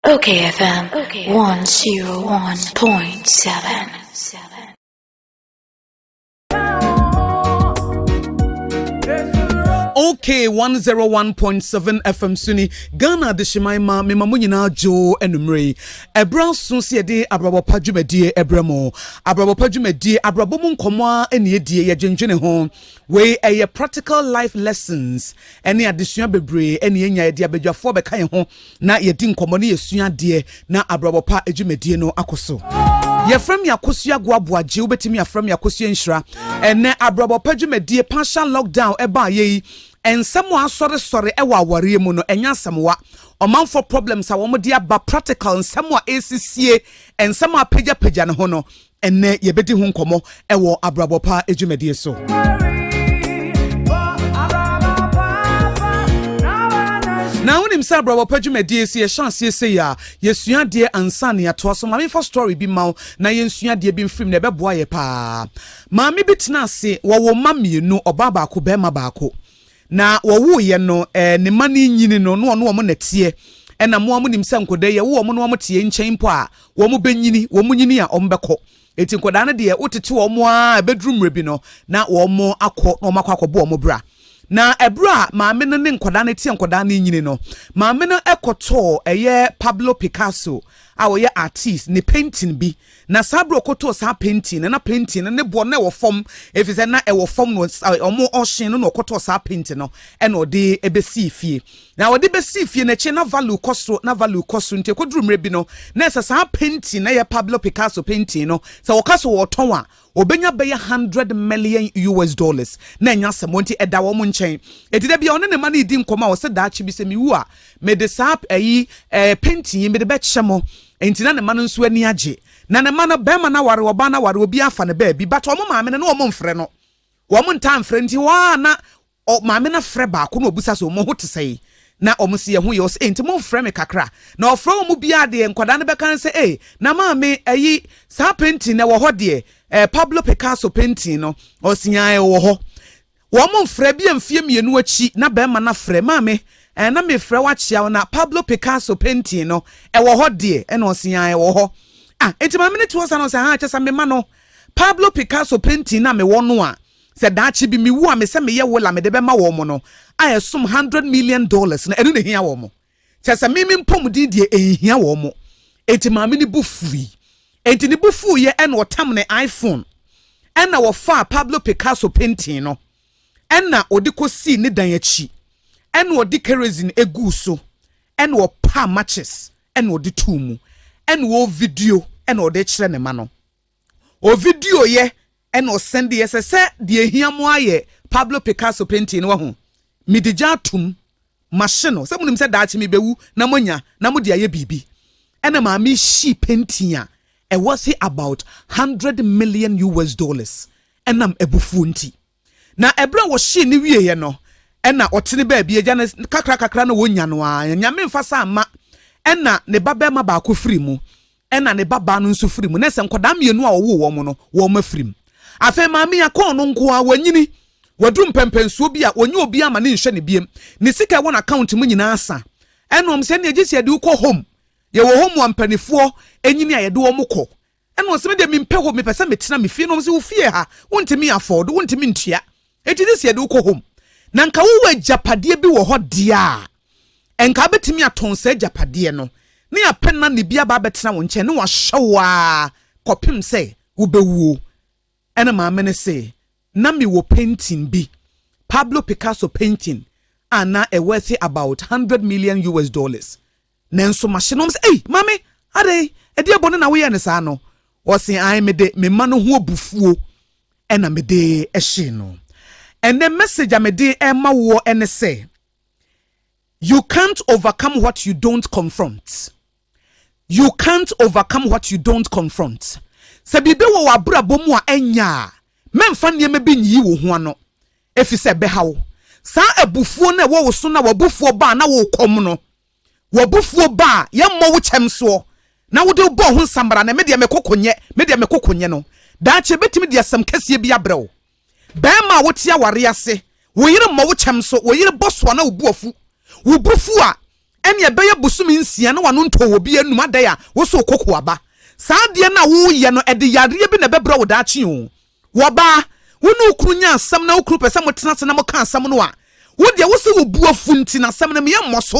Okay, FM 101.7. okay 101.7 fm so ni ghana adehyeman ma mema mo nyinaa dwo anummerɛ yi ɛberɛ so sɛ yɛde abrabɔ pa dwumadie ɛberɛ mu abrabɔ pa dwumadie abrabɔ mu nkɔmmɔ a ɛne ɛdie yɛdwendwene ho wei ɛyɛ practical life lessons Ɛne adesua bebree na yɛnya. Yɛde abadwafoɔ bɛka yɛn ho na yɛdi nkɔmmɔ na yɛsua adeɛ na abrabɔ pa adwumadie no akɔ so. Yɛfrɛ me akosua goaboa gye wobɛtumi afrɛ me akosua nhyira. Ɛnɛ abrabɔ pa adwumadie partial lockdown ɛbaa yɛ yi nsɛm a asɔresɔre ɛwɔ awareɛ mu no ɛnyɛ asɛmwa ɔmanfoɔ problems a wɔde aba practical nsɛm a ɛresisie nsɛm a apagyapagya ne ho no Ɛnnɛ yɛbɛdi ho nkɔmmɔ wɔ Abrabɔ Pa dwumadie so. na wonim sɛ abrabɔ pa dwumadie sɛ yɛhyɛ aseɛ sɛ yi a yɛsua adeɛ ansa ne yɛatoa so maame fa story bi ma wo na yɛnsua adeɛ bi mfirim na ɛbɛboa yɛ paa maame bi tena ase wɔwo mma mmienu ɔbaa baako bɛrima baako Na wɔwoo yɛ no ɛɛ ne mma no nyini no na ɔne wɔn na ɛteɛ, ɛna mo ara monim sɛ nkɔdaa yi yɛwo wɔn na wɔn teɛ nkyɛn mpo a wɔn bɛ nyini, wɔn nyini a wɔn bɛ kɔ, enti nkɔdaa no deɛ wo tete wɔn ara ɛbɛduru mmerɛ bi no na wɔn akɔ na wɔn akɔ akɔbɔ wɔn bra. Na ɛberɛ a maame no ne nkɔdaa no teɛ nkɔdaa no nyini no, maame no ɛkɔ tɔɔ ɛyɛ Pablo Picasso a ɔyɛ artist ne painting bi, Na saa bere a ɔkɔtɔɔ saa painting no, na painting no ne boɔ no na ɛwɔ fam, ɛfiri sɛ na ɛwɔ fam no wɔn ɔhyen no na ɔkɔtɔɔ saa painting no ɛna ɔde ɛbɛsii fie. Na ɔde bɛsii fie no akyire na value kɔ soro na value kɔ soro nti ɛkɔduru mmerɛ bi no na sɛ saa painting no yɛ Pablo Picasso painting no sɛ wɔka sɛ wɔretɔn a Obenya bɛyɛ hundred million US dollars na ɛnyɛ asɛm, wɔn nti ɛda wɔn nkyɛn. Enti da bi a ɔne ne mma no redi nkɔmmɔ a ɔsɛ daakye bi sɛ mewu a, mede saa ayi, eh, pentin yi mede bɛkyɛ mo. Enti na ne mma no nso ani agye. Na ne mma no, barima no aware, ɔbaa no aware, obiara afa ne baabi, but wɔn maame no, na wɔmfrɛ no. Wɔn ntaa mfrɛ no nti, hɔ ara na Ɔ, maame no frɛ baako na ɔbisa sɛ, Mo ho te sɛn? Na wɔn se, Yɛn ho ye. Ɔse, Enti momfrɛ me kakra. Na ɔfrɛ wɔn biara deɛ, nkwadaa no bɛka no sɛ, Ei, na maame, ayi, saa painting no ɛwɔ hɔ deɛ, ɛɛ, Pablo Picasso painting no? Ɔse, Yaa, ɛwɔ hɔ. Wɔmfrɛ, ebia mfeɛ mmienu akyi, na barima no afrɛ, Maame, ɛɛ, na mefrɛ wo akyea wo, na Pablo Picasso painting no, ɛwɔ hɔ deɛ? Ɛna ɔse, Yaa, ɛwɔ hɔ. Ah, enti maame no te hɔ saa na ɔse, Ahaa, kyerɛ sɛ mema no Pablo Picasso painting no a mewɔ no a, Sɛ daakye bi mewu a, me sɛ meyɛ will a mede bɛma wɔn no a ɛsom hundred million dollars no, ɛno na ehia wɔn. Kyerɛ sɛ me me mpɔmuden deɛ enhia wɔn. Enti maame no bo fuui. Enti ne bo fuiɛ ɛna ɔtam ne iPhone. Ɛna ɔfaa Pablo Picasso painting no ɛna ɔde kɔsii ne dan akyi. Ɛna ɔde kerosene eguu so ɛna ɔpaa matches ɛna ɔde too mu ɛna ɔrevideo ɛna ɔde rekyerɛ ne mma no. Ovidio yɛ na ɔsen deɛ ɛsɛ sɛ deɛ ehia mo ara yɛ Pablo Picasso pentin no wahu. Mede gya atom mahye no sɛ monim sɛ daakye mebewu na moanya na mode ayɛ biribi. Ɛna maame hyii pentin a ɛwɔthe about hundred million US dollars ɛnam abufuo nti. Na ɛberɛ a wɔhyee no wieeɛ no, ɛna ɔtene baabi, agya no kakrakakra na wɔnya no ara, na Nyame mfa saa mma, ɛna ne ba barima baako firi mu, ɛna ne ba baa no nso firi mu, na sɛ nkwadaa mmienu a ɔwoo wɔn no, wɔn afiri mu. Afei maame a kɔɔ no nko ara, wɔanyini, wɔaduru mpɛmpɛnsuo bi a, wɔnyɛ obiara ma ne nhyɛ ne biem, ne sika ɛwɔ n'account mu nyinaa asa, ɛna wɔn sɛ ɛneɛ gye sɛ yɛde wo kɔ home, yɛwɔ home a mpanifoɔ nyini a yɛde wɔn kɔ, Ɛna ɔse medeɛ mempɛ home mepɛ sɛ metena me fie na ɔmo se wo fie ha wontumi afford wontumi ntua eti this yɛde wo kɔ home na nka wowɔ agyapadeɛ bi wɔ hɔ deɛ a nka wobɛtumi atɔn saa agyapadeɛ no ne apɛ nanny bi aba abɛtena wo nkyɛn ne wahwɛ wo ara kɔpem sɛ wobɛwuo ɛna maame no se na mewɔ painting bi Pablo Picasso painting a na ɛwɔ ɛthe about hundred million US dollars Nanso mahye no ɔm sɛ, Ei, Mame, adɛn? Ɛdeɛ bɔne na woyɛɛ no saa no? Ɔse, Aane, mede me mma no ho abufuo na mede hyee no. Ɛnnɛ message a mede rema woɔ ne sɛ, You can't overcome what you don't confront. You can't overcome what you don't confront. Sɛ biribi wɔ w'abrabɔ mu a ɛnyɛ a, mɛmfa nneɛma bi nyiyi wo ho ano, ɛfiri sɛ ɛbɛha wo. Saa abufuo no a ɛwɔ wo so na w'abufuo baa na wokɔm no, W'abufuo ba a, yɛmmɔ wo kyɛm soɔ, na wode wo bɔɔ ho nsammara no, me deɛ me koko nyɛ, me deɛ me koko nyɛ no. Daakye ɛbɛtumi de asɛm kɛseɛ bi abrɛ wo. Barima a wote awareɛ ase, wo yere mmɔ wo kyɛm so, wo yere bɔ so a na wo bo afu. Wo bo fu a, ɛnneɛ ɛbɛyɛ bosome nsia na w'ano ntɔɔ obi anom, adɛn a, wo so wo koko aba. Saa adeɛ no a woreyɛ no, ɛde yareɛ bi na ɛbɛbrɛ wo daakye o. Wɔbaa, wo ne wo kunu nya asɛm na wo kunu pɛ sɛ motena ase na moka asɛm no a, wo deɛ wo sɛ wo bo afu nti na asɛm no meammɔ so.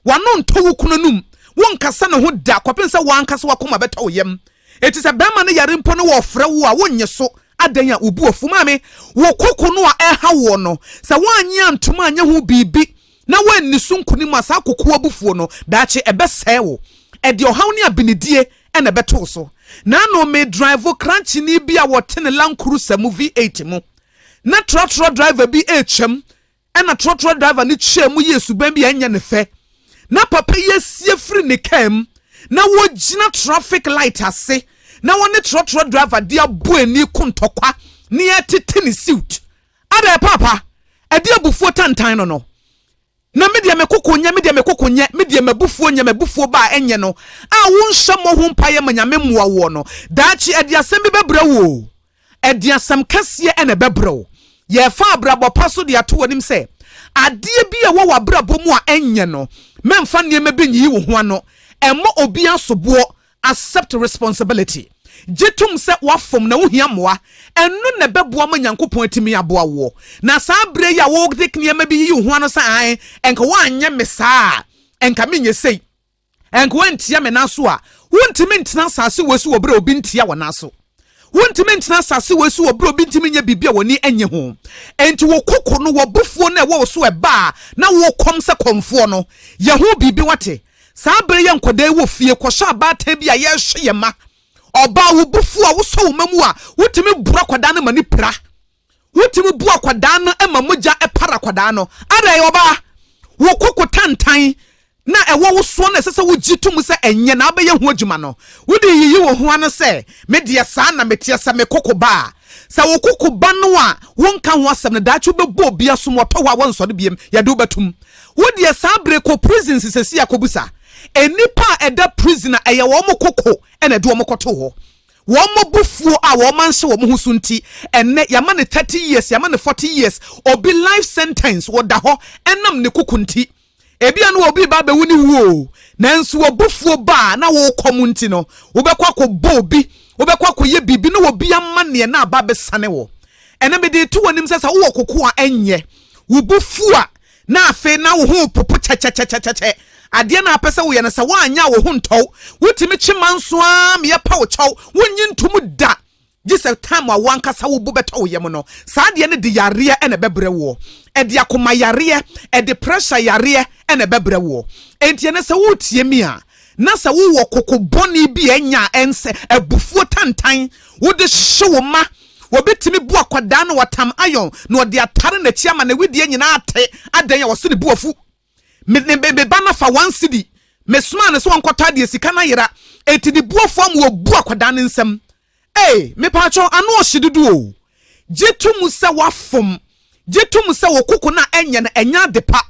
W'ano ntɔ wo kunu anom, wonkasa ne ho da kɔpem sɛ wo ankasa w'akoma bɛtɔ wo yam. Enti sɛ barima no yare mpo na ɔfrɛ wo a, wonnye so. Adɛn a wo bo afu? Maame, wo koko no a ɛreha woɔ no, sɛ woannye antom anyɛ ho biribi na woanni so nkonim a, saa koko abufuo no, daakye ɛbɛsɛe wo. Ɛde ɔhaw ne abenedie na ɛbɛtoo so. Naano medraivo krankyeni bi a ɔte ne Land Cruiser mu V8 mu. Ná trɔtrɔ driver bi retwam, ɛnna trɔtrɔ driver no twaam mu yɛɛ suban bi a ɛnyɛ ne fɛ. Ná papa yi asi afiri ne kaa mu, na wagyina traffic light ase, na ɔne trɔtrɔ driver de abɔ ani ko ntɔkwa, na ɛretete ne siwt. Abɛ, paapa, ɛde abufuo tantan no no. Na me deɛ, me koko nyɛ, me deɛ, me koko nyɛ, me deɛ, m'abufuo nyɛ, m'abufuo ba a, ɛnyɛ no a wonhyɛ mmɔ ho mpaeɛ ma Nyame mmoa woɔ no, daakye ɛde asɛm bi bɛbrɛ wo o, ɛde asɛm kɛseɛ ɛna ɛbɛbrɛ wo. Yɛrefa abrabɔ pa so de ato w'anim sɛ, adeɛ bi a ɛwɔ w'abrabɔ mu a ɛnyɛ no, mɛmfa nneɛma bi nyiyi wo ho ano, ɛmmɔ obiara soboɔ Accept responsibility, Gye tom sɛ woafom na wuhia mmoa. Ɛno na ɛbɛboa ma Nyankopɔn atumi aboa woɔ. Na saa berɛ yi a wode nneɛma bi yiyi wo ho ano sɛ ae, ɛnka woanyɛ me saa a, ɛnka menyɛ sei, ɛnka woantia me nan so a, wontumi ntena asase wei so wɔ berɛ a obi ntia wo nan so. Wontumi ntena asase wei so wɔ berɛ a obi ntumi nyɛ biribi a w'ani nnye ho. Enti wo koko no, w'abufuo no a ɛwɔ wo so ɛba a, na wokɔm sɛ kɔmfoɔ no, yɛ ho biribi, woate? Saa bere yɛ nkwadaa yi wɔ fie kɔsɔ abaatan bi a yɛrehwɛ yɛn mma. Ɔbaa wo bo fuw a wosɔ wo mma mu a, wutumi boro akwadaa no ma no pira. Wutumi bu akwadaa no ma mogya para akwadaa no. Adɛn, ɔbaa? Wo koko tantan na ɛwɔ wo soɔ na ɛsɛ sɛ wogye tom sɛ ɛnyɛ na wobɛyɛ ho adwuma no. Wode reyiyi wo ho ano sɛ, Me deɛ saa na meteɛ, sɛ me koko ba a, Sɛ wo koko ba no a wonka ho asɛm no daakye wobɛbɔ obi asom wɔtɔ hɔ a wɔnsɔre biam yɛde wo bɛtom wo deɛ saa bere kɔ prison sesesei a kɔbusa nnipa a ɛda prison a ɛyɛ wɔn koko na ɛde wɔn kɔtoo hɔ wɔn abufuo a wɔn anhyɛ wɔn ho so nti ɛnnɛ yɛama no 30 years yɛama no 40 years obi life sentence wɔda hɔ ɛnam ne koko nti Ebia na obi reba abɛwu ne wuo, nanso w'abufuo ba a na worekɔ mu nti no, wobɛkɔ akɔbɔ obi, wobɛkɔ akɔyɛ biribi na obi amaneɛ na aba abɛsane wo. Ɛnnɛ mede reto w'anim sɛ sɛ wowɔ koko a ɛnyɛ, wo bo fu a na afei na wo ho repopo kyɛkyɛkyɛkyɛkyɛ, adeɛ na apɛ sɛ woyɛ no sɛ woanyɛ a wo ho ntɔ wo, wotumi kye manso ara meyɛ pɛ wo kyɛw, wonnye ntom da. Gye sɛ time a wo ankasa wo bo bɛtɔ wo yam no, saa adeɛ no de yareɛ na ɛbɛbrɛ woɔ. Ɛde akoma yareɛ, ɛde pressure yareɛ na ɛbɛbrɛ woɔ. Enti ɛnnɛ sɛ woretie me a, na sɛ wowɔ koko bɔne bi a ɛnya a ɛnsɛ, abufuo tantan, wode hye wo mma, wɔbɛtumi bu akwadaa na watam iron na ɔde atare n'akyi ama ne wedeɛ nyinaa ate, adɛn a wɔse ne bo afu. Me me me ba no fa one cedi. Me somaa no sɛ ɔnkɔtɔ adeɛ sika no ayera. Enti ne bu afu ama wabu akwadaa no nsam. Ee, mepaakyɛw ano ɔhye dodo o. Gye to mu sɛ woafom. Gye to mu sɛ wo koko no a ɛnyɛ no ɛnyɛ ade pa.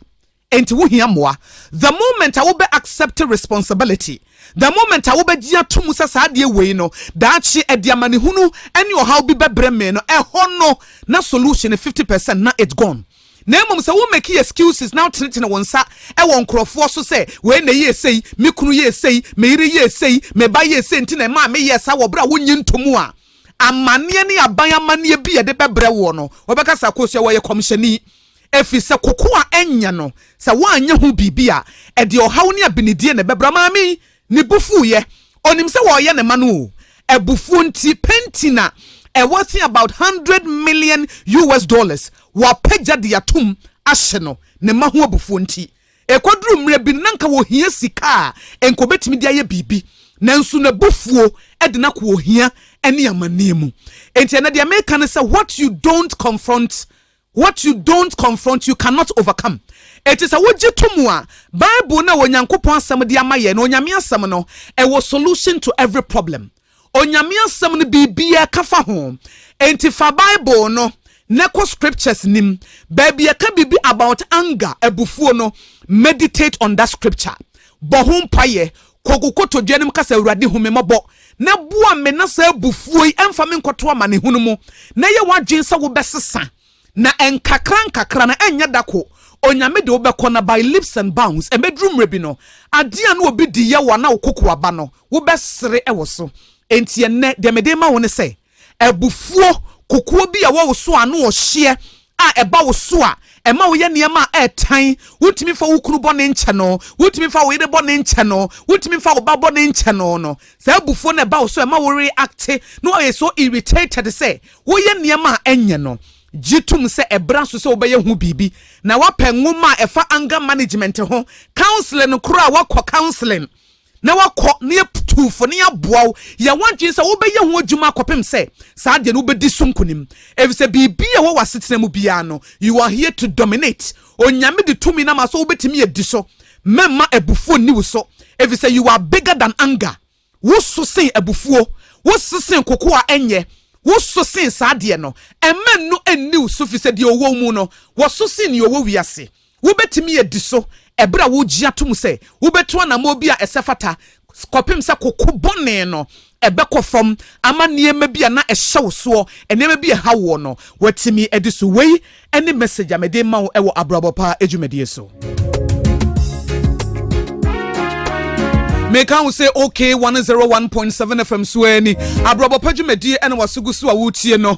Enti wo hia mmoa. The moment a wo bɛ accept responsibility, the moment a wo bɛ gye ato mu sɛ saa adeɛ wei no daakye ɛde amanehunu ɛne ɔhaw bi bɛ brɛ me no, ɛhɔ no na solution no fifty percent na it's gone. na mmom sɛ wo make excuses na wotenetene wo nsa wɔ nkurɔfoɔ so sɛ wei na ɛyɛɛ sei, me kunu yɛɛ sei, me yere yɛɛ sei, me ba yɛɛ sei nti na ɛmaa meyɛɛ saa wɔ berɛ a wonnye ntomu a, amanneɛ ne aban amanneɛ bi a yɛde bɛbrɛ woɔ no, wɔbɛka sɛ Akosua wɔyɛ kɔmhyɛni. Ɛfiri sɛ kokoa nyɛ no, sɛ woanyɛ ho biribi a, ɛde ɔhaw ne abenedie na ɛbɛbra. Maame yi, Ne bo fuiɛ. Ɔnim sɛ wɔreyɛ ne ma no o. Abufuo nti, pentin a ɛworth about hundred million US dollars wɔapagya de atom ahye no. Ne ma ho abufuo nti. Ɛkɔduru mmerɛ bi no, na nka ɔhia sika a nka ɔbɛtumi de ayɛ biribi. Nanso n'abufuo de no akɔ ohia ne amanneɛ mu. Enti ɛnnɛ deɛ mereka ne sɛ, what you don't confront What you don't confront, you cannot overcome. Enti sɛ wogye to mu a, Bible no a Onyankopɔn Asɛm de ama yɛn no, Onyame Asɛm no, ɛwɔ solution to every problem. Onyame Asɛm no, biribiara ɛka fa ho. Enti fa Bible no na kɔ scriptures nim. Baabi a ɛka biribi about anger, abufuo no, meditate on that scripture. Bɔ ho mpaeɛ, Kɔ wo kotodwe anim ka sɛ, Awurade, hu me mmɔbɔ na boa me na saa abufuo yi mfa me nkɔto amanehunu mu, na yɛ w'adwene sɛ wobɛsesa, na nkakrankakra, na ɛnyɛ da ko, Onyame de wo bɛkɔ, na by leaps and bounds, ɛbɛduru mmerɛ bi no, adeɛ a na obi di yɛ wo anaa wo kokoa ba no, wobɛsere wɔ so. Enti ɛnnɛ, deɛ mede rema wo ne sɛ. Abufuo, Kokoɔ bi a ɛwɔ wo so ano ɔhyeɛ a ɛba wo so a ɛma woyɛ nneɛma a ɛtan, wontumi mfa wo kunu bɔne nkyɛ no, wontumi mfa wo yere bɔne nkyɛ no, wontumi mfa wo ba bɔne nkyɛ no no. Saa abufuo no ɛba wo so ɛma wo reacte na woayɛ so irritated sɛ woyɛ nneɛma a ɛnyɛ no. Gye tom sɛ ɛbra so sɛ wobɛyɛ ho biribi na woapɛ nwoma a ɛfa anger management ho, counseling koraa woakɔ counseling na woakɔ na yɛatu wo fo na yɛaboa wo, yɛ w'adwene sɛ wobɛyɛ ho adwuma akɔpem sɛ saa deɛ no wobɛdi so nkonim. Efisɛ biribiara a ɛwɔ w'asetena mu biara no, you are here to dominate. Onyame de tumi no ama wo sɛ wobɛtumi adi so. Mɛmma abufuo nni wo so, efisɛ you are bigger than anger. Wo so sen abufuo. Wo so sen koko a ɛnyɛ. Wo so sen saa deɛ no. Mma ɛno nni wo so, efisɛ deɛ ɔwɔ wo mu no, wɔso sen nea ɔwɔ wiase. Wubetumi adi so bere a wugye atom sɛ wubetu anammɔn bi a ɛsɛ fata kɔpem sɛ koko bɔne no bɛkɔ fam ama nneɛma bi a na ɛhyɛ wo soɔ, nneɛma bi a ɛhaw woɔ no, woatumi adi so. Wei ne message a mede rema wo wɔ Abrabɔ Pa dwumadie so. Meka wo sɛ OK 101.7 FM so ara ni. Abrabɔ Pa dwumadie na waso gu so a woretie no.